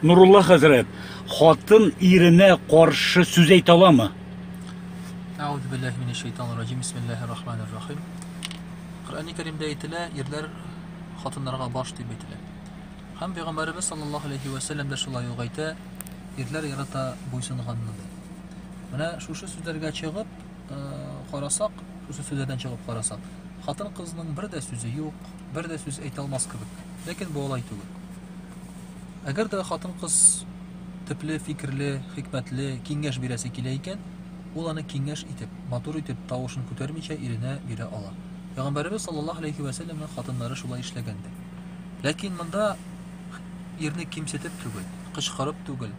Нурулла хәзрәт, хатын иренә каршы сүз әйтә аламы? Әгъүзу биллаһи минәш шайтанир раҗим. Бисмиллаһир рахманир рахим. Коръәнне Кәримдә әйтелә, ирләр хатыннарга баш дип әйтелә. Һәм пәйгамбәребез саллаллаһу алейхи ва саллям да шулай ук әйтә, ирләр ярата буйсынганны. Менә шушы сүзләргә чыгып, карасак, шушы сүзләрдән чыгып карасак, хатын-кызның бер дә сүзе юк, бер дә сүз әйтә алмас кебек. Ләкин бу алай түгел. Әгәр дә хатын-кыз төпле, фикерле, хикмәтле киңәш бирәсе килә икән, ул аны киңәш итеп, матур итеп, тавышын күтәрмичә иренә бирә ала. Пәйгамбәребез саллаллаһу алейхи ва сәлләмнең хатыннары шулай эшләгәндер. Ләкин монда ирне кимсетеп түгел, кычкырып түгел,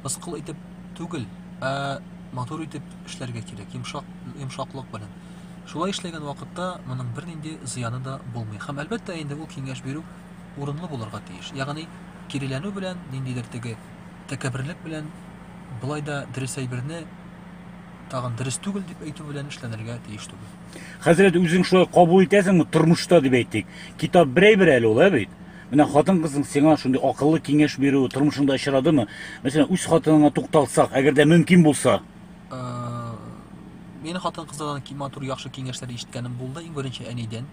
мыскыл итеп түгел, ә матур итеп эшләргә кирәк, йомшак, йомшаклык белән. Шулай эшләгән вакытта моның бернинди зыяны да булмый. Һәм әлбәттә инде ул киңәш бирү урынлы булырга тиеш. Ягъни киреләнү белән, ниндидер теге тәкәбберлек белән болай да дөрес әйберне тагын дөрес түгел дип әйтү белән эшләнергә тиеш түгел. Хәзрәт, үзең шулай кабул итәсеңме тормышта дип әйтик? Китап берәй бер әле ул, ә бит? Менә хатын-кызның сиңа шундый акыллы киңәш бирү тормышыңда очрадымы? Мәсәлән, үз хатыныңа тукталсак, әгәр дә мөмкин булса. Э, мин хатын-кызлардан ки матур яхшы киңәшләр ишеткәнем булды, иң беренче әнидән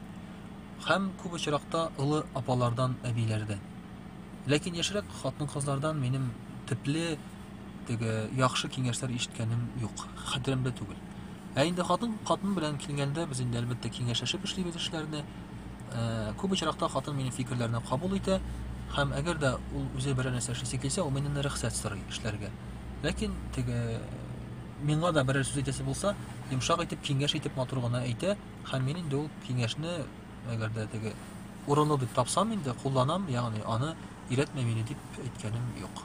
һәм күп очракта олы апалардан, әбиләрдән. Ләкин яшьрәк хатын-кызлардан минем төпле теге яхшы киңәшләр ишеткәнем юк, хәтеремдә түгел. Ә инде хатын хатын белән килгәндә, без инде әлбәттә киңәшәшеп эшлибез эшләрне. Э, күп очракта хатын минем фикерләрне кабул итә, һәм әгәр дә ул үзе берәр нәрсә эшлисе килсә, ул миннән рөхсәт сорый эшләргә. Ләкин теге миңа да берәр сүз әйтәсе булса, йомшак итеп, киңәш итеп матур гына әйтә, һәм мин инде ул киңәшне әгәр дә теге урынлы дип тапсам инде кулланам, ягъни аны иретмә мине дип әйткәнем юк.